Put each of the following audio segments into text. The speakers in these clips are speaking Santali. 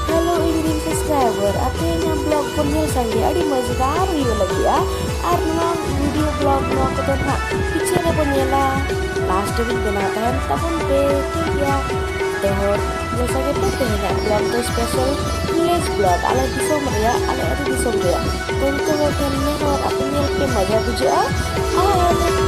ᱦᱮᱞᱳ ᱤᱧᱨᱮᱱ ᱥᱟᱵᱥᱠᱨᱟᱭᱵᱟᱨ ᱟᱯᱮ ᱤᱧᱟᱹᱜ ᱵᱞᱚᱜ ᱠᱚ ᱧᱮᱞ ᱠᱟᱱ ᱜᱮᱭᱟ ᱟᱹᱰᱤ ᱢᱚᱡᱽᱫᱟᱨ ᱦᱩᱭᱩᱜ ᱞᱟᱹᱜᱤᱫᱼᱟ ᱟᱨ ᱱᱚᱣᱟ ᱵᱷᱤᱰᱤᱭᱳ ᱵᱞᱚᱜ ᱱᱚᱣᱟ ᱠᱚᱫᱚ ᱱᱟᱦᱟᱜ ᱯᱤᱪᱷᱮ ᱨᱮᱵᱚ ᱧᱮᱞᱟ ᱞᱟᱥᱴ ᱨᱮᱵᱚᱱ ᱵᱮᱱᱟᱣ ᱛᱟᱦᱮᱱ ᱛᱟᱵᱚᱱ ᱯᱮ ᱴᱷᱤᱠ ᱜᱮᱭᱟ ᱯᱮ ᱦᱚᱲ ᱡᱮᱭᱥᱟ ᱜᱮ ᱯᱮ ᱛᱮᱦᱮᱧᱟᱜ ᱵᱞᱚᱜ ᱫᱚ ᱥᱯᱮᱥᱟᱞ ᱵᱷᱤᱞᱮᱡᱽ ᱵᱞᱚᱜ ᱟᱞᱮ ᱫᱤᱥᱚᱢ ᱨᱮᱭᱟᱜ ᱟᱞᱮ ᱟᱹᱛᱩ ᱫᱤᱥᱚᱢ ᱨᱮᱭᱟᱜ ᱩᱱᱠᱩ ᱦᱚᱲ ᱴᱷᱮᱱ ᱱᱮᱦᱚᱨ ᱟᱯᱮ ᱧᱮᱞ ᱯᱮ ᱢᱚᱡᱟ ᱵᱩᱡᱷᱟᱹᱜᱼᱟ ᱟᱨ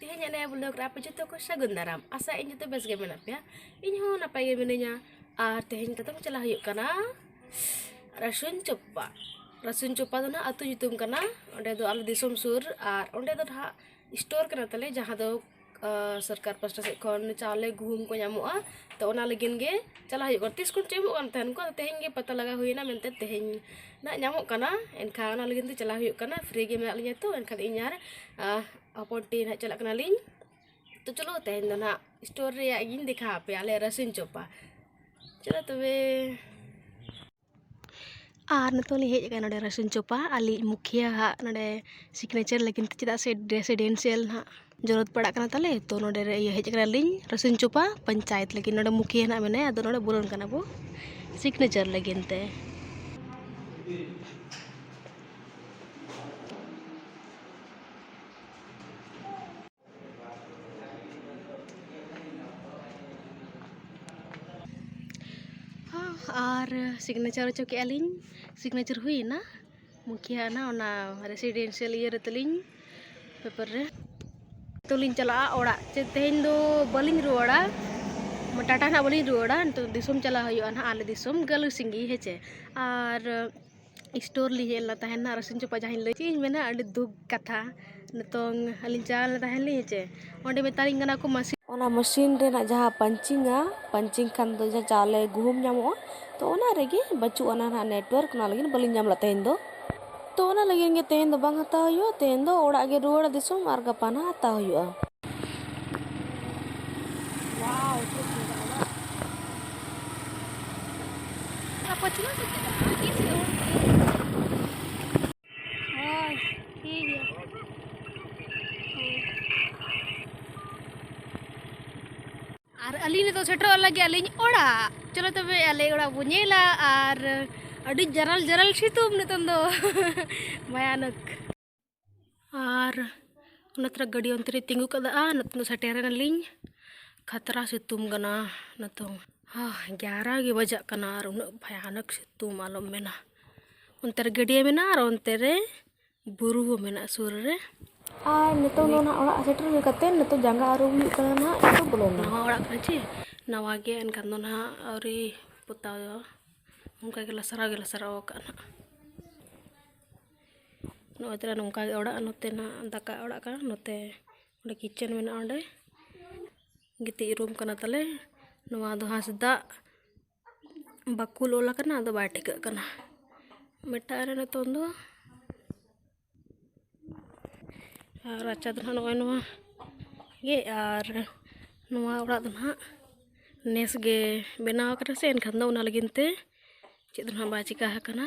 ᱛᱮᱦᱮᱧᱟᱜ ᱱᱤᱭᱟᱹ ᱵᱞᱚᱜᱽ ᱨᱮ ᱟᱯᱮ ᱡᱚᱛᱚ ᱠᱚ ᱥᱟᱹᱜᱩᱱ ᱫᱟᱨᱟᱢ ᱟᱥᱟᱭᱮᱫ ᱟᱹᱧ ᱡᱚᱛᱚ ᱵᱮᱥ ᱜᱮ ᱢᱮᱱᱟᱜ ᱯᱮᱭᱟ ᱤᱧ ᱦᱚᱸ ᱱᱟᱯᱟᱭ ᱜᱮ ᱢᱤᱱᱟᱹᱧᱟ ᱟᱨ ᱛᱮᱦᱮᱧ ᱠᱟᱛᱮᱢ ᱪᱟᱞᱟᱜ ᱦᱩᱭᱩᱜ ᱠᱟᱱᱟ ᱨᱟᱹᱥᱩᱱ ᱪᱚᱯᱯᱟ ᱨᱟᱹᱥᱩᱱ ᱪᱚᱯᱯᱟ ᱫᱚ ᱱᱟᱦᱟᱜ ᱟᱛᱳ ᱧᱩᱛᱩᱢ ᱠᱟᱱᱟ ᱚᱸᱰᱮ ᱫᱚ ᱟᱞᱮ ᱫᱤᱥᱚᱢ ᱥᱩᱨ ᱟᱨ ᱚᱸᱰᱮ ᱫᱚ ᱱᱟᱦᱟᱜ ᱥᱴᱳᱨ ᱠᱟᱱᱟ ᱛᱟᱞᱮ ᱡᱟᱦᱟᱸ ᱫᱚ ᱥᱚᱨᱠᱟᱨ ᱯᱟᱥᱴᱟ ᱥᱮᱫ ᱠᱷᱚᱱ ᱪᱟᱣᱞᱮ ᱜᱩᱦᱩᱢ ᱠᱚ ᱧᱟᱢᱚᱜᱼᱟ ᱛᱚ ᱚᱱᱟ ᱞᱟᱹᱜᱤᱫ ᱜᱮ ᱪᱟᱞᱟᱜ ᱦᱩᱭᱩᱜ ᱠᱟᱱᱟ ᱛᱤᱥ ᱠᱷᱚᱱ ᱪᱚ ᱮᱢᱚᱜ ᱠᱟᱱ ᱛᱟᱦᱮᱱ ᱠᱚ ᱟᱫᱚ ᱛᱮᱦᱮᱧ ᱜᱮ ᱯᱟᱛᱟ ᱞᱟᱜᱟᱣ ᱦᱩᱭᱱᱟ ᱢᱮᱱᱛᱮ ᱛᱮᱦᱮᱧ ᱱᱟᱦᱟᱜ ᱧᱟᱢᱚᱜ ᱠᱟᱱᱟ ᱮᱱᱠᱷᱟᱱ ᱚᱱᱟ ᱞᱟᱹᱜᱤᱫ ᱛᱮ ᱪᱟᱞᱟᱜ ᱦᱩᱭᱩᱜ ᱠᱟᱱᱟ ᱯᱷᱨᱤ ᱜᱮ ᱢᱮᱱᱟᱜ ᱞᱤᱧᱟᱹ ᱛᱚ ᱮᱱᱠᱷᱟᱱ ᱤᱧ ᱟᱨ ᱯᱟᱯᱚᱲ ᱴᱤ ᱱᱟᱦᱟᱜ ᱪᱟᱞᱟᱜ ᱠᱟᱱᱟᱞᱤᱧ ᱛᱚ ᱪᱚᱞᱚ ᱛᱮᱦᱮᱧ ᱫᱚ ᱱᱟᱦᱟᱜ ᱥᱴᱳᱨ ᱨᱮᱭᱟᱜ ᱜᱤᱧ ᱫᱮᱠᱷᱟᱣ ᱟᱯᱮᱭᱟ ᱟᱞᱮ ᱨᱟᱹᱥᱩᱱ ᱪᱚᱯᱟ ᱪᱚᱞᱚ ᱛᱚᱵᱮ ᱟᱨ ᱱᱤᱛᱚᱜ ᱞᱤᱧ ᱦᱮᱡ ᱟᱠᱟᱱᱟ ᱱᱚᱰᱮ ᱨᱟᱹᱥᱩᱱ ᱪᱚᱯᱟ ᱟᱞᱮᱭᱤᱡ ᱢᱩᱠᱷᱤᱭᱟᱹ ᱦᱟᱜ ᱱᱚᱰᱮ ᱥᱤᱜᱽᱱᱮᱪᱟᱨ ᱞᱟᱹᱜᱤᱫ ᱛᱮ ᱪᱮᱫᱟᱜ ᱥᱮ ᱨᱮᱥᱤᱰᱮᱱᱥᱤᱭᱟᱞ ᱱᱟᱦᱟᱜ ᱡᱚᱨᱩᱨᱚᱛ ᱯᱟᱲᱟᱜ ᱠᱟᱱᱟ ᱛᱟᱞᱮ ᱛᱚ ᱱᱚᱰᱮ ᱤᱭᱟᱹ ᱦᱮᱡ ᱠᱟᱱᱟᱞᱤᱧ ᱨᱟᱹᱥᱩᱱ ᱪᱚᱯᱟ ᱯᱚᱧᱪᱟᱭᱮᱛ ᱞᱟᱹᱜᱤᱫ ᱱᱚᱰᱮ ᱢᱩᱠᱷᱤᱭᱟᱹ ᱱᱟᱦᱟᱜ ᱢᱮᱱᱟᱭᱟ ᱟᱫᱚ ᱱᱚᱰᱮ ᱵᱚᱞᱚᱱ ᱠᱟᱱᱟ ᱵᱚ ᱥᱤᱜᱽᱱᱮᱪᱟᱨ ᱞᱟᱹᱜᱤᱫ ᱛᱮ ᱟᱨ ᱥᱤᱜᱽᱱᱮᱪᱟᱨ ᱦᱚᱪᱚ ᱠᱮᱜᱼᱟ ᱞᱤᱧ ᱥᱤᱜᱽᱱᱮᱪᱟᱨ ᱦᱩᱭᱮᱱᱟ ᱢᱩᱠᱷᱤᱭᱟᱹ ᱟᱜ ᱱᱟᱦᱟᱜ ᱚᱱᱟ ᱨᱮᱥᱤᱰᱮᱱᱥᱤᱭᱟᱞ ᱤᱭᱟᱹ ᱨᱮ ᱛᱟᱹᱞᱤᱧ ᱯᱮᱯᱟᱨ ᱨᱮ ᱱᱤᱛᱚᱜ ᱞᱤᱧ ᱪᱟᱞᱟᱜᱼᱟ ᱚᱲᱟᱜ ᱪᱮ ᱛᱮᱦᱮᱧ ᱫᱚ ᱵᱟᱹᱞᱤᱧ ᱨᱩᱣᱟᱹᱲᱟ ᱴᱟᱴᱟ ᱱᱟᱦᱟᱜ ᱵᱟᱹᱞᱤᱧ ᱨᱩᱣᱟᱹᱲᱟ ᱱᱤᱛᱚᱜ ᱫᱤᱥᱚᱢ ᱪᱟᱞᱟᱜ ᱦᱩᱭᱩᱜᱼᱟ ᱱᱟᱦᱟᱜ ᱟᱞᱮ ᱫᱤᱥᱚᱢ ᱜᱟᱹᱞᱩᱥᱤᱝᱜᱤ ᱦᱮᱸ ᱪᱮ ᱟᱨ ᱥᱴᱳᱨ ᱞᱤᱧ ᱦᱮᱡ ᱞᱮᱱᱟ ᱛᱟᱦᱮᱱ ᱱᱟᱦᱟᱜ ᱨᱚᱥᱩᱱ ᱪᱚᱯᱟ ᱡᱟᱦᱟᱸᱧ ᱞᱟᱹᱭ ᱠᱮᱫ ᱤᱧ ᱢᱮᱱᱟ ᱟᱹᱰᱤ ᱫᱩᱠ ᱠᱟᱛᱷᱟ ᱱᱤᱛᱚᱝ ᱟᱹᱞᱤᱧ ᱪᱟᱞᱟᱣ ᱞᱮᱱᱟ ᱛᱟᱦᱮᱱ ᱞᱤᱧ ᱦᱮᱸᱥᱮ ᱚᱸᱰᱮ ᱢᱮᱛᱟᱞᱤᱧ ᱠᱟᱱᱟ ᱠᱚ ᱢᱟᱹᱥᱤᱱ ᱚᱱᱟ ᱢᱟᱹᱥᱤᱱ ᱨᱮᱱᱟᱜ ᱡᱟᱦᱟᱸ ᱯᱟᱧᱪᱤᱝᱟ ᱯᱟᱧᱪᱤᱝ ᱠᱷᱟᱱ ᱫᱚ ᱡᱟᱦᱟᱸ ᱪᱟᱣᱞᱮ ᱜᱩᱦᱩᱢ ᱧᱟᱢᱚᱜᱼᱟ ᱛᱚ ᱚᱱᱟ ᱨᱮᱜᱮ ᱵᱟᱹᱪᱩᱜ ᱟᱱᱟ ᱱᱟᱦᱟᱜ ᱱᱮᱴᱚᱣᱟᱨᱠ ᱚᱱᱟ ᱞᱟᱹᱜᱤᱫ ᱵᱟᱹᱞᱤᱧ ᱧᱟᱢ ᱞᱮᱫᱟ ᱛᱮᱦᱮᱧ ᱫᱚ ᱛᱚ ᱚᱱᱟ ᱞᱟᱹᱜᱤᱫ ᱜᱮ ᱛᱮᱦᱮᱧ ᱫᱚ ᱵᱟᱝ ᱦᱟᱛᱟᱣ ᱦᱩᱭᱩᱜᱼᱟ ᱛᱮᱦᱮᱧ ᱫᱚ ᱚᱲᱟᱜ ᱜᱮ ᱨᱩᱣᱟᱹᱲ ᱫᱤᱥᱚᱢ ᱟᱨ ᱜᱟᱯᱟ ᱱᱟᱦᱟᱜ ᱦᱟᱛᱟᱣ ᱦᱩᱭᱩᱜᱼᱟ ᱟᱨ ᱟᱹᱞᱤᱧ ᱱᱤᱛᱚᱜ ᱥᱮᱴᱮᱨᱚᱜ ᱞᱟᱹᱜᱤᱫ ᱟᱹᱞᱤᱧ ᱚᱲᱟᱜ ᱪᱚᱞᱚ ᱛᱚᱵᱮ ᱟᱞᱮ ᱚᱲᱟᱜ ᱵᱚ ᱧᱮᱞᱟ ᱟᱨ ᱟᱹᱰᱤ ᱡᱟᱨᱟᱞ ᱡᱟᱨᱟᱞ ᱥᱤᱛᱩᱝ ᱱᱤᱛᱚᱝ ᱫᱚ ᱵᱷᱟᱭᱟᱱᱚᱠ ᱟᱨ ᱚᱱᱟ ᱛᱚᱨᱟ ᱜᱟᱹᱰᱤ ᱚᱱᱛᱮ ᱨᱮ ᱛᱤᱸᱜᱩ ᱠᱟᱫᱟ ᱱᱤᱛᱚᱝ ᱥᱮᱴᱮᱨᱮᱱᱟᱞᱤᱧ ᱠᱷᱟᱛᱨᱟ ᱥᱤᱛᱩᱝ ᱠᱟᱱᱟ ᱱᱤᱛᱚᱝ ᱜᱮᱭᱟᱨᱟ ᱜᱮ ᱵᱟᱡᱟᱜ ᱠᱟᱱᱟ ᱟᱨ ᱩᱱᱟᱹᱜ ᱵᱷᱚᱭᱟᱱᱚᱠ ᱥᱤᱛᱩᱝ ᱟᱞᱚᱢ ᱢᱮᱱᱟ ᱚᱱᱛᱮ ᱨᱮ ᱜᱟᱹᱰᱭᱟᱹ ᱢᱮᱱᱟᱜᱼᱟ ᱟᱨ ᱚᱱᱛᱮ ᱨᱮ ᱵᱩᱨᱩ ᱦᱚᱸ ᱢᱮᱱᱟᱜᱼᱟ ᱥᱩᱨ ᱨᱮ ᱟᱨ ᱱᱤᱛᱚᱝ ᱫᱚ ᱱᱟᱦᱟᱜ ᱚᱲᱟᱜ ᱥᱮᱴᱮᱨ ᱦᱩᱭ ᱠᱟᱛᱮ ᱱᱤᱛᱚᱝ ᱡᱟᱸᱜᱟ ᱟᱹᱨᱩᱵ ᱦᱩᱭᱩᱜ ᱠᱟᱱᱟ ᱱᱟᱦᱟᱜ ᱱᱤᱛᱚᱜ ᱵᱚᱞᱚᱱ ᱱᱟᱣᱟ ᱚᱲᱟᱜ ᱠᱟᱱᱟ ᱪᱮ ᱱᱟᱣᱟ ᱜᱮ ᱮᱱᱠᱷᱟᱱ ᱫᱚ ᱱᱟᱦᱟᱜ ᱟᱹᱣᱨᱤ ᱯᱚᱛᱟᱣ ᱚᱱᱠᱟ ᱜᱮ ᱞᱟᱥᱟᱨᱟᱣ ᱜᱮ ᱞᱟᱥᱟᱨᱟᱣ ᱟᱠᱟᱫᱼᱟ ᱱᱟᱦᱟᱜ ᱱᱚᱜᱼᱚᱭ ᱛᱟᱞᱮ ᱱᱚᱝᱠᱟ ᱜᱮ ᱚᱲᱟᱜ ᱱᱚᱛᱮ ᱱᱟᱜ ᱫᱟᱠᱟ ᱚᱲᱟᱜ ᱠᱟᱱᱟ ᱱᱚᱛᱮ ᱚᱸᱰᱮ ᱠᱤᱪᱮᱱ ᱢᱮᱱᱟᱜᱼᱟ ᱚᱸᱰᱮ ᱜᱤᱛᱤᱡ ᱨᱩᱢ ᱠᱟᱱᱟ ᱛᱟᱞᱮ ᱱᱚᱣᱟ ᱫᱚ ᱦᱟᱸᱥᱫᱟᱜ ᱵᱟᱠᱩᱞ ᱚᱞ ᱟᱠᱟᱱᱟ ᱟᱫᱚ ᱵᱟᱭ ᱴᱷᱤᱠᱟᱹᱜ ᱠᱟᱱᱟ ᱢᱮᱴᱟᱜ ᱨᱮ ᱱᱤᱛᱚᱝ ᱫᱚ ᱟᱨ ᱨᱟᱪᱟ ᱫᱚ ᱱᱟᱜ ᱱᱚᱜᱼᱚᱭ ᱱᱚᱣᱟ ᱜᱮ ᱟᱨ ᱱᱚᱣᱟ ᱚᱲᱟᱜ ᱫᱚ ᱱᱟᱜ ᱱᱮᱥ ᱜᱮ ᱵᱮᱱᱟᱣ ᱠᱟᱱᱟ ᱥᱮ ᱮᱱᱠᱷᱟᱱ ᱫᱚ ᱚᱱᱟ ᱞᱟᱹᱜᱤᱫ ᱛᱮ ᱪᱮᱫ ᱦᱚᱸ ᱵᱟᱭ ᱪᱤᱠᱟᱹ ᱟᱠᱟᱱᱟ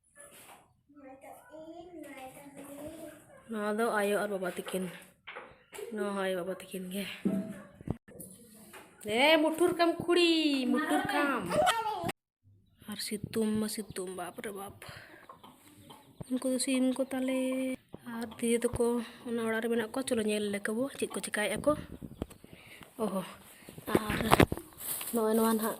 ᱱᱚᱣᱟ ᱫᱚ ᱟᱭᱳ ᱟᱨ ᱵᱟᱵᱟ ᱛᱟᱹᱠᱤᱱ ᱱᱚᱣᱟ ᱦᱚᱸ ᱟᱭᱳ ᱵᱟᱵᱟ ᱛᱟᱹᱠᱤᱱ ᱜᱮ ᱮ ᱢᱩᱴᱷᱩᱨ ᱠᱟᱢ ᱠᱩᱲᱤ ᱢᱩᱴᱷᱩᱨ ᱠᱟᱢ ᱟᱨ ᱥᱤᱛᱩᱝ ᱢᱟ ᱥᱤᱛᱩᱝ ᱵᱟᱯ ᱨᱮ ᱵᱟᱯ ᱩᱱᱠᱩ ᱫᱚ ᱥᱤᱢ ᱠᱚ ᱛᱟᱞᱮ ᱟᱨ ᱫᱤᱫᱤ ᱛᱟᱠᱚ ᱚᱱᱟ ᱚᱲᱟᱜ ᱨᱮ ᱢᱮᱱᱟᱜ ᱠᱚᱣᱟ ᱪᱚᱞᱚ ᱧᱮᱞ ᱞᱮᱠᱟ ᱵᱚ ᱪᱮᱫ ᱠᱚ ᱪᱮᱠᱟᱭᱮᱫᱼᱟ ᱠᱚ ᱚᱦᱚ ᱟᱨ ᱱᱚᱜᱼᱚᱭ ᱱᱚᱣᱟ ᱱᱟᱦᱟᱜ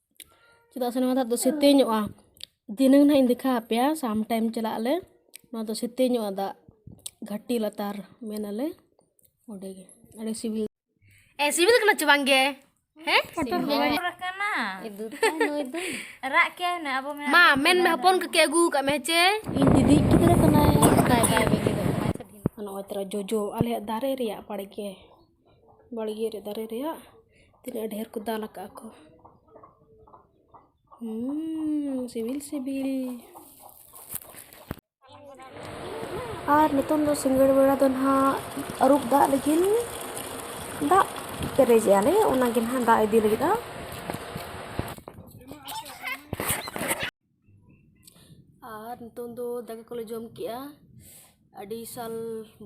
ᱪᱮᱫᱟᱜ ᱥᱮ ᱱᱚᱣᱟ ᱫᱟᱜ ᱫᱚ ᱥᱮᱛᱮᱧᱚᱜᱼᱟ ᱫᱷᱤᱱᱟᱹᱝ ᱱᱟᱦᱟᱜ ᱤᱧ ᱫᱮᱠᱷᱟᱣ ᱟᱯᱮᱭᱟ ᱥᱟᱢ ᱴᱟᱭᱤᱢ ᱪᱟᱞᱟᱜ ᱟᱞᱮ ᱱᱚᱣᱟ ᱫᱚ ᱥᱮᱛᱮᱧᱚᱜᱼᱟ ᱫᱟᱜ ᱜᱷᱟᱴᱤ ᱞᱟᱛᱟᱨ ᱢᱮᱱᱟᱞᱮ ᱚᱸᱰᱮ ᱜᱮ ᱟᱹᱰᱤ ᱥᱤᱵᱤᱞ ᱮ ᱥᱤᱵᱤᱞ ᱠᱟᱱᱟ ᱪᱮ ᱵᱟᱝ ᱜᱮ ᱦᱮᱸ ᱨᱟᱜ ᱠᱮ ᱟᱵᱚ ᱢᱟ ᱢᱮᱱ ᱢᱮ ᱦᱚᱯᱚᱱ ᱠᱚ ᱠᱮ ᱟᱹᱜᱩ ᱠᱟᱜ ᱢᱮ ᱪᱮ ᱤᱧ ᱫᱤᱫᱤ ᱜᱤᱫᱽᱨᱟᱹ ᱠᱟᱱᱟᱭ ᱱᱚᱜᱼᱚᱭ ᱛᱚᱨᱟ ᱡᱚᱡᱚ ᱟᱞᱮᱭᱟᱜ ᱫᱟᱨᱮ ᱨᱮᱭᱟᱜ ᱵᱟᱲᱜᱮ ᱵᱟᱲᱜᱮ ᱨᱮ ᱫᱟᱨᱮ ᱨᱮᱭᱟᱜ ᱛᱤᱱᱟᱹᱜ ᱰᱷᱮᱹᱨ ᱠᱚ ᱫᱟᱞ ᱟᱠᱟᱫ ᱟᱠᱚ ᱥᱤᱵᱤᱞ ᱥᱤᱵᱤᱞ ᱟᱨ ᱱᱤᱛᱚᱝ ᱫᱚ ᱥᱤᱸᱜᱟᱹᱲ ᱵᱮᱲᱟ ᱫᱚ ᱱᱟᱦᱟᱜ ᱟᱹᱨᱩᱵ ᱫᱟᱜ ᱞᱟᱹᱜᱤᱫ ᱫᱟᱜ ᱯᱮᱨᱮᱡᱮᱜᱼᱟ ᱞᱮ ᱚᱱᱟᱜᱮ ᱱᱟᱦᱟᱜ ᱫᱟᱜ ᱤᱫᱤ ᱞᱟᱹᱜᱤᱫᱼᱟ ᱟᱨ ᱱᱤᱛᱳᱝ ᱫᱚ ᱫᱟᱠᱟ ᱠᱚᱞᱮ ᱡᱚᱢ ᱠᱮᱫᱼᱟ ᱟᱹᱰᱤ ᱥᱟᱞ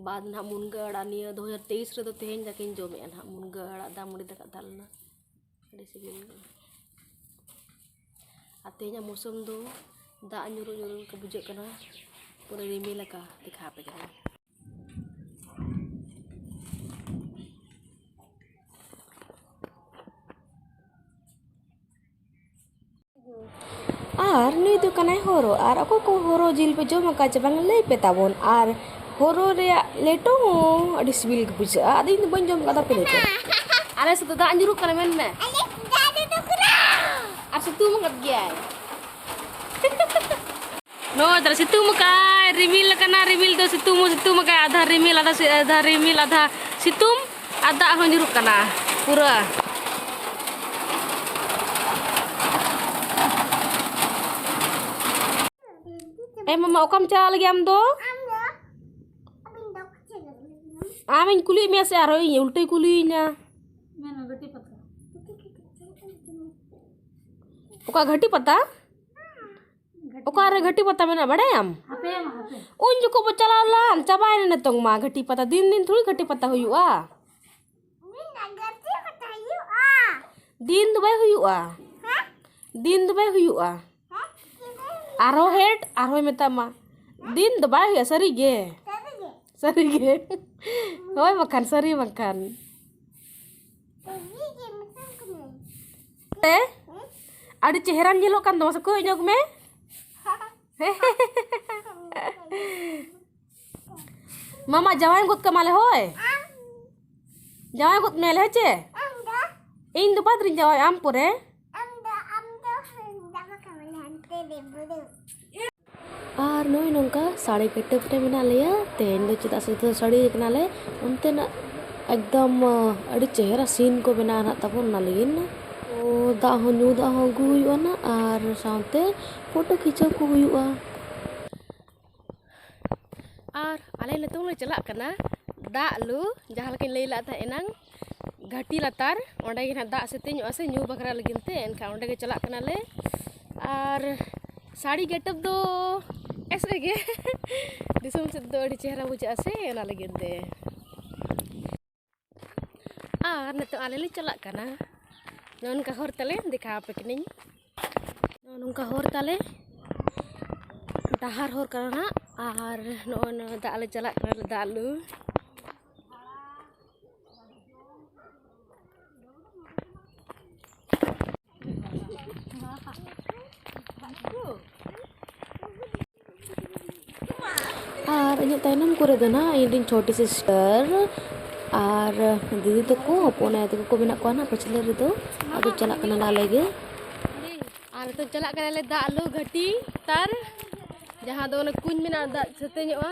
ᱵᱟᱫᱽ ᱱᱟᱦᱟᱸᱜ ᱢᱩᱱᱜᱟᱹ ᱟᱲᱟᱜ ᱱᱤᱭᱟᱹ ᱫᱩ ᱦᱟᱡᱟᱨ ᱛᱮᱭᱤᱥ ᱨᱮᱫᱚ ᱛᱮᱦᱮᱧ ᱫᱟᱠᱟᱧ ᱡᱚᱢᱮᱫᱼᱟ ᱱᱟᱦᱟᱸᱜ ᱢᱩᱱᱜᱟᱹ ᱟᱲᱟᱜ ᱫᱟᱜ ᱢᱟᱹᱰᱤ ᱫᱟᱠᱟ ᱛᱟᱦᱮᱸ ᱞᱮᱱᱟ ᱟᱹᱰᱤ ᱥᱤᱵᱤᱞ ᱜᱮ ᱟᱨ ᱛᱮᱦᱮᱧᱟᱜ ᱢᱳᱥᱚᱢ ᱫᱚ ᱫᱟᱜ ᱧᱩᱨᱩᱜ ᱧᱩᱨᱩᱜ ᱞᱮᱠᱟ ᱵᱩᱡᱷᱟᱹᱜ ᱠᱟᱱᱟ ᱯᱩᱨᱟᱹ ᱨᱤᱢᱤᱞ ᱟᱠᱟᱫᱼᱟ ᱫᱮᱠᱷᱟᱣ ᱟᱯᱮ ᱠᱟᱹᱱᱟᱹᱧ ᱟᱨ ᱱᱩᱭ ᱫᱚ ᱠᱟᱱᱟᱭ ᱦᱚᱨᱚ ᱟᱨ ᱚᱠᱚᱭ ᱠᱚ ᱦᱚᱨᱚ ᱡᱤᱞ ᱯᱮ ᱡᱚᱢ ᱟᱠᱟᱫ ᱪᱮ ᱵᱟᱝ ᱞᱟᱹᱭ ᱯᱮ ᱛᱟᱵᱚᱱ ᱟᱨ ᱦᱚᱨᱚ ᱨᱮᱭᱟᱜ ᱞᱮᱴᱚ ᱦᱚᱸ ᱟᱹᱰᱤ ᱥᱤᱵᱤᱞ ᱜᱮ ᱵᱩᱡᱷᱟᱹᱜᱼᱟ ᱟᱫᱚ ᱤᱧ ᱫᱚ ᱵᱟᱹᱧ ᱡᱚᱢ ᱟᱠᱟᱫᱟ ᱯᱮ ᱞᱟᱹᱭ ᱯᱮ ᱟᱞᱮ ᱥᱮᱫ ᱫᱚ ᱫᱟᱜ ᱧᱩᱨᱩᱜ ᱠᱟᱱᱟ ᱢᱮᱱ ᱢᱮ ᱟᱨ ᱥᱤᱛᱩᱝ ᱟᱠᱟᱫ ᱜᱮᱭᱟᱭ ᱱᱚ ᱫᱟᱨᱟ ᱥᱤᱛᱩᱝ ᱢᱟᱠᱟ ᱨᱤᱢᱤᱞ ᱠᱟᱱᱟ ᱨᱤᱢᱤᱞ ᱫᱚ ᱥᱤᱛᱩᱝ ᱢᱚ ᱥᱤᱛᱩᱝ ᱢᱟᱠᱟ ᱟᱫᱷᱟ ᱨᱤᱢᱤᱞ ᱟᱫᱷᱟ ᱟᱫᱷᱟ ᱨᱤᱢᱤᱞ ᱟᱫᱷᱟ ᱥᱤᱛᱩᱝ ᱟᱨ ᱫᱟᱜ ᱦᱚᱸ ᱧᱩᱨᱩᱜ ᱠᱟᱱᱟ ᱯᱩᱨᱟᱹ ᱮ ᱢᱟᱢᱟ ᱚᱠᱟᱢ ᱪᱟᱞᱟᱜ ᱞᱟᱹᱜᱤᱫ ᱟᱢ ᱫᱚ ᱟᱢᱤᱧ ᱠᱩᱞᱤᱭᱮᱫ ᱢᱮᱭᱟ ᱥᱮ ᱟᱨᱦᱚᱸ ᱤᱧ ᱩᱞᱴᱟᱹᱭ ᱠᱩᱞᱤᱭᱤᱧᱟ ᱚᱠᱟ ᱜᱷᱟᱹᱴᱤ ᱯᱟᱛᱟ ᱚᱠᱟᱨᱮ ᱜᱷᱟᱹᱴᱤ ᱯᱟᱛᱟ ᱢᱮᱱᱟᱜᱼᱟ ᱵᱟᱲᱟᱭᱟᱢ ᱩᱱ ᱡᱚᱠᱷᱚᱱ ᱵᱚ ᱪᱟᱞᱟᱣ ᱞᱮᱱ ᱪᱟᱵᱟᱭᱮᱱᱟ ᱱᱤᱛᱚᱝ ᱢᱟ ᱜᱷᱟᱹᱴᱤ ᱯᱟᱛᱟ ᱫᱤᱱ ᱫᱤᱱ ᱛᱷᱚᱲᱤ ᱜᱷᱟᱹᱴᱤ ᱯᱟᱛᱟ ᱦᱩᱭᱩᱜᱼᱟ ᱫᱤᱱ ᱫᱚ ᱵᱟᱭ ᱦᱩᱭᱩᱜᱼᱟ ᱫᱤᱱ ᱫᱚ ᱵᱟᱭ ᱦᱩᱭᱩᱜᱼᱟ ᱟᱨᱦᱚᱸ ᱦᱮᱰ ᱟᱨᱦᱚᱸᱭ ᱢᱮᱛᱟᱢᱟ ᱫᱤᱱ ᱫᱚ ᱵᱟᱭ ᱦᱩᱭᱩᱜᱼᱟ ᱥᱟᱹᱨᱤᱜᱮ ᱥᱟᱹᱨᱤᱜᱮ ᱦᱳᱭ ᱵᱟᱠᱷᱟᱱ ᱥᱟᱹᱨᱤ ᱵᱟᱠᱷᱟᱱ ᱛᱮ ᱟᱹᱰᱤ ᱪᱮᱦᱨᱟᱢ ᱧᱮᱞᱚᱜ ᱠᱟᱱ ᱫᱚ ᱢᱟᱥᱮ ᱠᱚᱭᱚᱜ ᱧᱚᱜᱽ ᱢᱮ ᱢᱟᱢᱟ ᱡᱟᱶᱟᱭ ᱜᱚᱫ ᱠᱟᱢᱟᱞᱮ ᱦᱳᱭ ᱡᱟᱶᱟᱭ ᱜᱚᱫ ᱢᱮᱭᱟᱞᱮ ᱦᱮᱸ ᱪᱮ ᱤᱧ ᱫᱚ ᱵᱟᱫᱽᱨᱤᱧ ᱡᱟᱶᱟᱭ ᱟᱢ ᱯᱚᱨᱮ ᱟᱨ ᱱᱚᱜᱼᱚᱭ ᱱᱚᱝᱠᱟ ᱥᱟᱹᱲᱤ ᱠᱟᱹᱴᱟᱹᱵ ᱨᱮ ᱢᱮᱱᱟᱜ ᱞᱮᱭᱟ ᱛᱮᱦᱮᱧ ᱫᱚ ᱪᱮᱫᱟᱜ ᱥᱮ ᱫᱷᱩᱛᱤ ᱥᱟᱹᱲᱤ ᱠᱟᱱᱟᱞᱮ ᱚᱱᱛᱮᱱᱟᱜ ᱮᱠᱫᱚᱢ ᱟᱹᱰᱤ ᱪᱮᱦᱨᱟ ᱥᱤᱱ ᱠᱚ ᱵᱮᱱᱟᱣ ᱱᱟᱜ ᱛᱟᱵᱚᱱ ᱚᱱᱟ ᱞᱟᱹᱜᱤᱫ ᱛᱚ ᱫᱟᱜ ᱦᱚᱸ ᱧᱩ ᱫᱟᱜ ᱦᱚᱸ ᱟᱹᱜᱩ ᱦᱩᱭᱩᱜᱼᱟ ᱱᱟᱜ ᱟᱨ ᱥᱟᱶᱛᱮ ᱯᱷᱳᱴᱳ ᱠᱷᱤᱪᱟᱹᱣ ᱠᱚ ᱦᱩᱭᱩᱜᱼᱟ ᱟᱨ ᱟᱞᱮ ᱱᱤᱛᱚᱝ ᱞᱮ ᱪᱟᱞᱟᱜ ᱠᱟᱱᱟ ᱫᱟᱜ ᱞᱩ ᱡᱟᱦᱟᱸ ᱞᱮᱠᱟᱧ ᱞᱟᱹᱭ ᱞᱮᱫ ᱛᱟᱦᱮᱸ ᱮᱱᱟᱝ ᱜᱷᱟᱹᱴᱤ ᱞᱟᱛᱟᱨ ᱚᱸᱰᱮ ᱜᱮ ᱱᱟᱦᱟᱜ ᱫᱟᱜ ᱥᱮᱛᱮᱧ ᱧᱚᱜᱼᱟ ᱥᱮ ᱧᱩ ᱵᱟᱠᱷᱨᱟ ᱞᱟᱹᱜᱤᱫ ᱛᱮ ᱮᱱᱠᱷᱟᱱ ᱚᱸᱰᱮ ᱜᱮ ᱪᱟᱞᱟᱜ ᱠᱟᱱᱟᱞᱮ ᱟᱨ ᱥᱟᱹᱲᱤ ᱜᱮᱴᱟᱯ ᱫᱚ ᱮᱥᱮ ᱜᱮ ᱫᱤᱥᱚᱢ ᱥᱮᱫ ᱫᱚ ᱟᱹᱰᱤ ᱪᱮᱦᱨᱟ ᱵᱩᱡᱷᱟᱹᱜᱼᱟ ᱥᱮ ᱚᱱᱟ ᱞᱟᱹᱜᱤᱫ ᱛᱮ ᱟᱨ ᱱᱤᱛᱚᱜ ᱟᱞᱮ ᱞᱮ ᱪᱟᱞᱟᱜ ᱠᱟᱱᱟ ᱱᱚᱝᱠᱟ ᱦᱚᱨ ᱛᱟᱞᱮ ᱫᱮᱠᱷᱟ ᱟᱯᱮ ᱠᱟᱹᱱᱟᱹᱧ ᱱᱚᱝᱠᱟ ᱦᱚᱨ ᱛᱟᱞᱮ ᱰᱟᱦᱟᱨ ᱦᱚᱨ ᱠᱟᱱᱟ ᱟᱨ ᱱᱚᱜᱼᱚᱭ ᱱᱚᱣᱟ ᱫᱟᱜ ᱞᱮ ᱪᱟᱞᱟᱜ ᱠᱟᱱᱟ ᱫᱟᱜ ᱞᱩ ᱟᱨ ᱤᱧᱟᱹᱜ ᱛᱟᱭᱱᱚᱢ ᱠᱚᱨᱮ ᱫᱚ ᱱᱟᱜ ᱤᱧ ᱨᱮᱱ ᱪᱷᱚᱴᱤ ᱥᱤᱥᱴᱟᱨ ᱟᱨ ᱫᱤᱫᱤ ᱛᱟᱠᱚ ᱦᱚᱯᱚᱱ ᱟᱭᱳ ᱛᱟᱠᱚ ᱠᱚ ᱢᱮᱱᱟᱜ ᱠᱚᱣᱟ ᱱᱟᱜ ᱯᱟᱹᱪᱷᱞᱟᱹ ᱨᱮᱫᱚ ᱟᱫᱚ ᱪᱟᱞᱟᱜ ᱠᱟᱱᱟᱞᱮ ᱟᱞᱮ ᱜᱮ ᱟᱨ ᱱᱤᱛᱚᱜ ᱪᱟᱞᱟᱜ ᱠᱟᱱᱟᱞᱮ ᱫᱟᱜ ᱞᱩ ᱜᱷᱟᱹᱴᱤ ᱛᱟᱨ ᱡᱟᱦᱟᱸ ᱫᱚ ᱚᱱᱟ ᱠᱩᱧ ᱢᱮᱱᱟᱜᱼᱟ ᱫᱟᱜ ᱥᱟᱹᱛᱮ ᱧᱚᱜᱼᱟ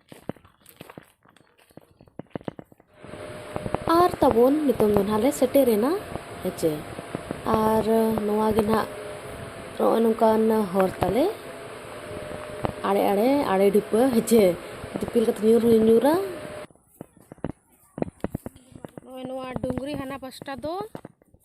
ᱟᱨ ᱛᱟᱵᱚᱱ ᱱᱤᱛᱚᱝ ᱫᱚ ᱱᱟᱦᱟᱜ ᱞᱮ ᱥᱮᱴᱮᱨᱮᱱᱟ ᱦᱮᱸᱪᱮ ᱟᱨ ᱱᱚᱣᱟ ᱜᱮ ᱱᱟᱦᱟᱜ ᱱᱚᱜᱼᱚᱭ ᱱᱚᱝᱠᱟᱱ ᱦᱚᱨ ᱛᱟᱞᱮ ᱟᱲᱮ ᱟᱲᱮ ᱟᱲᱮ ᱰᱷᱤᱯᱟᱹ ᱦᱮᱸᱪᱮ ᱫᱤᱯᱤᱞ ᱠᱟᱛᱮ ᱧᱩᱨ ᱦᱚᱸ ᱧᱩᱨᱟ ᱱᱚᱜᱼᱚᱭ ᱱᱚᱣᱟ ᱰᱩᱝᱨᱤ ᱦᱟᱱᱟ ᱯᱟᱥᱴᱟ ᱫᱚ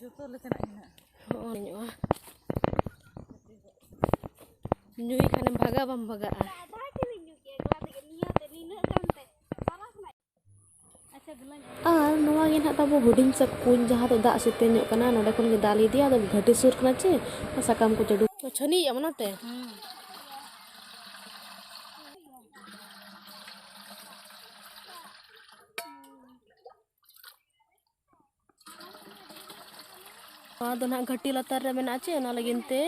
ᱡᱚᱛᱚ ᱞᱮᱠᱟᱱᱟᱜ ᱢᱮᱱᱟᱜᱼᱟ ᱦᱚᱸᱜᱼᱚᱭ ᱧᱚᱜᱼᱟ ᱧᱩᱭ ᱠᱷᱟᱱᱮᱢ ᱵᱷᱟᱜᱟ ᱵᱟᱢ ᱵᱷᱟᱜᱟᱜᱼᱟ ᱟᱨ ᱱᱚᱣᱟ ᱜᱮ ᱱᱟᱦᱟᱜ ᱛᱟᱵᱚ ᱦᱩᱰᱤᱧ ᱥᱟ ᱠᱩᱧ ᱡᱟᱦᱟᱸ ᱫᱚ ᱫᱟᱜ ᱥᱮᱛᱮ ᱧᱚᱜ ᱠᱟᱱᱟ ᱱᱚᱰᱮ ᱠᱷᱚᱱ ᱜᱮ ᱫᱟᱜ ᱞᱮ ᱤᱫᱤᱭᱟ ᱟᱫᱚ ᱜᱷᱟᱹᱴᱤ ᱥᱩᱨ ᱠᱟᱱᱟ ᱪᱮ ᱥᱟᱠᱟᱢ ᱠᱚ ᱪᱟᱰᱩ ᱪᱷᱟᱹᱱᱤᱭᱮᱜᱼᱟ ᱚᱱᱟᱛᱮ ᱱᱚᱣᱟ ᱫᱚ ᱱᱟᱦᱟᱜ ᱜᱷᱟᱹᱴᱤ ᱞᱟᱛᱟᱨ ᱨᱮ ᱢᱮᱱᱟᱜᱼᱟ ᱪᱮ ᱚᱱᱟ ᱞᱟᱹᱜᱤᱫ ᱛᱮ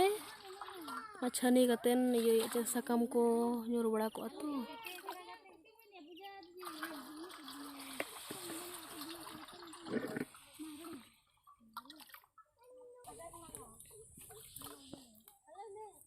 ᱪᱷᱟᱹᱱᱤ ᱠᱟᱛᱮᱱ ᱤᱭᱟᱹᱭᱮᱫ ᱪᱮ ᱥᱟᱠᱟᱢ ᱠᱚ ᱧᱩᱨ ᱵᱟᱲᱟ ᱠᱚᱜᱼᱟ ᱛᱚ Hello,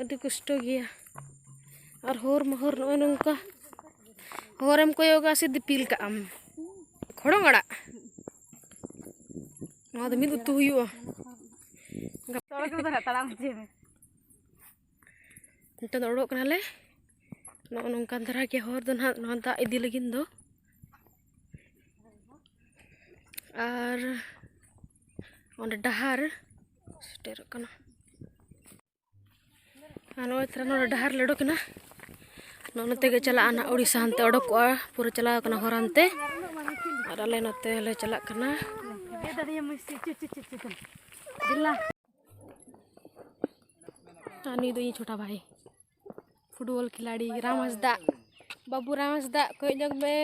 ᱟᱹᱰᱤ ᱠᱚᱥᱴᱚ ᱜᱮᱭᱟ ᱟᱨ ᱦᱚᱨ ᱢᱚᱦᱚᱨ ᱱᱚᱜᱼᱚᱭ ᱱᱚᱝᱠᱟ ᱦᱚᱨᱮᱢ ᱠᱚᱭᱚᱜᱟ ᱥᱮ ᱫᱤᱯᱤᱞ ᱠᱟᱜ ᱟᱢ ᱠᱷᱚᱲᱚᱝ ᱟᱲᱟᱜ ᱱᱚᱣᱟ ᱫᱚ ᱢᱤᱫ ᱩᱛᱩ ᱦᱩᱭᱩᱜᱼᱟ ᱱᱤᱛᱚᱜ ᱫᱚ ᱚᱰᱚᱠ ᱠᱟᱱᱟᱞᱮ ᱱᱚᱜᱼᱚ ᱱᱚᱝᱠᱟᱱ ᱫᱷᱟᱨᱟ ᱜᱮ ᱦᱚᱨ ᱫᱚ ᱱᱟᱦᱟᱜ ᱱᱚᱣᱟ ᱫᱟᱜ ᱤᱫᱤ ᱞᱟᱹᱜᱤᱫ ᱫᱚ ᱟᱨ ᱚᱸᱰᱮ ᱰᱟᱦᱟᱨ ᱥᱮᱴᱮᱨᱚᱜ ᱠᱟᱱᱟ ᱟᱨ ᱱᱚᱜᱼᱚᱭ ᱛᱟᱦᱚᱞᱮ ᱱᱚᱰᱮ ᱰᱟᱦᱟᱨ ᱞᱮ ᱚᱰᱚᱠ ᱮᱱᱟ ᱱᱚᱜᱼᱚ ᱱᱚᱛᱮ ᱜᱮ ᱪᱟᱞᱟᱜᱼᱟ ᱱᱟᱜ ᱩᱲᱤᱥᱥᱟ ᱦᱟᱱᱛᱮ ᱚᱰᱚᱠᱚᱜᱼᱟ ᱯᱩᱨᱟᱹ ᱪᱟᱞᱟᱣ ᱠᱟᱱᱟ ᱦᱚᱨ ᱦᱟᱱᱛᱮ ᱟᱨ ᱟᱞᱮ ᱱᱚᱛᱮ ᱞᱮ ᱪᱟᱞᱟᱜ ᱠᱟᱱᱟ ᱟᱨ ᱱᱩᱭ ᱫᱚ ᱤᱧ ᱪᱷᱳᱴᱟ ᱵᱷᱟᱭ ᱯᱷᱩᱴᱵᱚᱞ ᱠᱷᱤᱞᱟᱲᱤ ᱨᱟᱢ ᱦᱟᱸᱥᱫᱟ ᱵᱟᱹᱵᱩ ᱨᱟᱢ ᱦᱟᱸᱥᱫᱟ ᱠᱚᱭᱚᱜ ᱧᱚᱜᱽ ᱢᱮ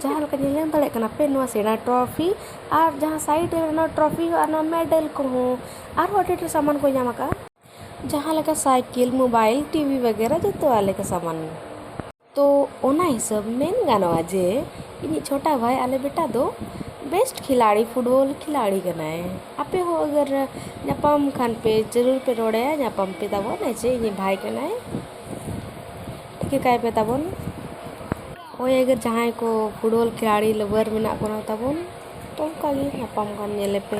ᱡᱟᱦᱟᱸ ᱞᱮᱠᱟ ᱧᱮᱞ ᱧᱟᱢ ᱫᱟᱲᱮᱭᱟᱜ ᱠᱟᱱᱟ ᱯᱮ ᱱᱚᱣᱟ ᱥᱮᱬᱟ ᱴᱨᱚᱯᱷᱤ ᱟᱨ ᱡᱟᱦᱟᱸ ᱥᱟᱭᱤᱰ ᱨᱮ ᱢᱮᱱᱟᱜᱼᱟ ᱴᱨᱚᱯᱷᱤ ᱟᱨ ᱱᱚᱣᱟ ᱢᱮᱰᱮᱞ ᱠᱚᱦᱚᱸ ᱟᱨᱦᱚᱸ ᱟᱹᱰᱤ ᱰᱷᱮᱨ ᱥᱟᱢᱟᱱ ᱠᱚ ᱧᱟᱢ ᱟᱠᱟᱫᱼᱟ ᱡᱟᱦᱟᱸ ᱞᱮᱠᱟ ᱥᱟᱭᱠᱮᱞ ᱢᱳᱵᱟᱭᱤᱞ ᱴᱤᱵᱷᱤ ᱵᱟᱜᱮᱨᱟ ᱡᱚᱛᱚᱣᱟᱜ ᱞᱮᱠᱟ ᱥᱟᱢᱟᱱ ᱛᱚ ᱚᱱᱟ ᱦᱤᱥᱟᱹᱵ ᱢᱮᱱ ᱜᱟᱱᱚᱜᱼᱟ ᱡᱮ ᱤᱧᱤᱡ ᱪᱷᱳᱴᱟ ᱵᱷᱟᱭ ᱟᱞᱮ ᱵᱮᱴᱟ ᱫᱚ ᱵᱮᱥᱴ ᱠᱷᱤᱞᱟᱲᱤ ᱯᱷᱩᱴᱵᱚᱞ ᱠᱷᱤᱞᱟᱲᱤ ᱠᱟᱱᱟᱭ ᱟᱯᱮ ᱦᱚᱸ ᱟᱜᱟᱨ ᱧᱟᱯᱟᱢ ᱠᱷᱟᱱ ᱯᱮ ᱡᱟᱹᱨᱩᱲ ᱯᱮ ᱨᱚᱲ ᱟᱭᱟ ᱧᱟᱯᱟᱢ ᱯᱮ ᱛᱟᱵᱚᱱ ᱡᱮ ᱤᱧᱤᱡ ᱵᱷᱟᱭ ᱠᱟᱱᱟᱭ ᱴᱷᱤᱠᱟᱹ ᱠᱟᱭ ᱯᱮ ᱛᱟᱵᱚᱱ ᱦᱳᱭ ᱟᱜᱟᱨ ᱡᱟᱦᱟᱸᱭ ᱠᱚ ᱯᱷᱩᱴᱵᱚᱞ ᱠᱷᱤᱞᱟᱲᱤ ᱞᱟᱵᱟᱨ ᱢᱮᱱᱟᱜ ᱵᱚᱱᱟ ᱛᱟᱵᱚᱱ ᱛᱚ ᱚᱱᱠᱟ ᱜᱮ ᱧᱟᱯᱟᱢ ᱠᱷᱟᱱ ᱧᱮᱞᱮᱯᱮ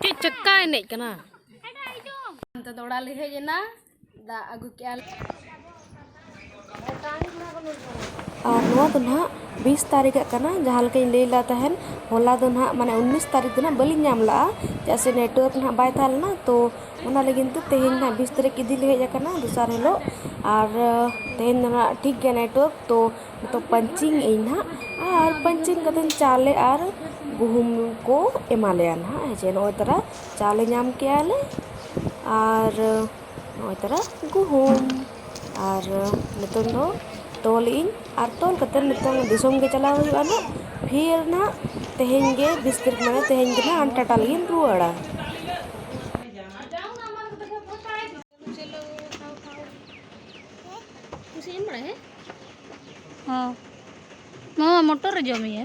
ᱪᱮᱫ ᱪᱟᱠᱟ ᱮᱱᱮᱡ ᱠᱟᱱᱟ ᱛᱮᱫᱚ ᱚᱲᱟᱜ ᱞᱮ ᱦᱮᱡ ᱮᱱᱟ ᱫᱟᱜ ᱟᱹᱜᱩ ᱠᱮᱜᱼᱟ ᱞᱮ ᱟᱨ ᱱᱚᱣᱟ ᱫᱚ ᱱᱟᱦᱟᱜ ᱵᱤᱥ ᱛᱟᱹᱨᱤᱠᱷᱟᱜ ᱠᱟᱱᱟ ᱡᱟᱦᱟᱸ ᱞᱮᱠᱟᱧ ᱞᱟᱹᱭ ᱞᱮᱫ ᱛᱟᱦᱮᱱ ᱦᱚᱞᱟ ᱫᱚ ᱱᱟᱦᱟᱜ ᱢᱟᱱᱮ ᱩᱱᱤᱥ ᱛᱟᱹᱨᱤᱠᱷ ᱫᱚ ᱱᱟᱦᱟᱜ ᱵᱟᱹᱞᱤᱧ ᱧᱟᱢ ᱞᱟᱜᱼᱟ ᱪᱮᱫᱟᱜ ᱥᱮ ᱱᱮᱴᱣᱟᱨᱠ ᱱᱟᱦᱟᱜ ᱵᱟᱭ ᱛᱟᱦᱮᱸ ᱞᱮᱱᱟ ᱛᱚ ᱚᱱᱟ ᱞᱟᱹᱜᱤᱫ ᱛᱮ ᱛᱮᱦᱮᱧ ᱱᱟᱦᱟᱜ ᱵᱤᱥ ᱛᱟᱹᱨᱤᱠᱷ ᱤᱫᱤ ᱞᱮ ᱦᱮᱡ ᱟᱠᱟᱱᱟ ᱫᱚᱥᱟᱨ ᱦᱤᱞᱳᱜ ᱟᱨ ᱛᱮᱦᱮᱧ ᱫᱚ ᱱᱟᱦᱟᱜ ᱴᱷᱤᱠ ᱜᱮᱭᱟ ᱱᱮᱴᱣᱟᱨᱠ ᱛᱚ ᱱᱤᱛᱚᱜ ᱯᱟᱧᱪᱤᱝ ᱟᱹᱧ ᱱᱟᱦᱟᱜ ᱟᱨ ᱯᱟᱧᱪᱤᱝ ᱠᱟᱛᱮᱫ ᱪᱟᱣᱞᱮ ᱟᱨ ᱜᱩᱦᱩᱢ ᱠᱚ ᱮᱢᱟ ᱞᱮᱭᱟ ᱱᱟᱦᱟᱜ ᱦᱮᱸᱥᱮ ᱱᱚᱜᱼᱚᱭ ᱛᱚᱨᱟ ᱪᱟᱣᱞᱮ ᱧᱟᱢ ᱠᱮᱜᱼᱟ ᱞᱮ ᱟᱨ ᱱᱚᱜᱼᱚᱭ ᱛᱚᱨᱟ ᱜᱩᱦᱩᱢ ᱟᱨ ᱱᱤᱛᱚᱝ ᱫᱚ ᱛᱚᱞ ᱮᱜ ᱟᱹᱧ ᱟᱨ ᱛᱚᱞ ᱠᱟᱛᱮᱫ ᱱᱤᱛᱚᱝ ᱫᱤᱥᱚᱢ ᱜᱮ ᱪᱟᱞᱟᱣ ᱦᱩᱭᱩᱜᱼᱟ ᱦᱟᱸᱜ ᱯᱷᱤᱨ ᱦᱟᱸᱜ ᱛᱮᱦᱮᱧ ᱜᱮ ᱵᱤᱥ ᱛᱟᱹᱨᱤᱠᱷ ᱢᱟᱱᱮ ᱛᱮᱦᱮᱧ ᱜᱮ ᱦᱟᱸᱜ ᱴᱟᱴᱟ ᱞᱟᱹᱜᱤᱫ ᱤᱧ ᱨᱩᱣᱟᱹᱲᱟ ᱦᱚᱸ ᱱᱚᱣᱟ ᱢᱚᱴᱚᱨᱮ ᱡᱚᱢᱮᱜᱼᱟ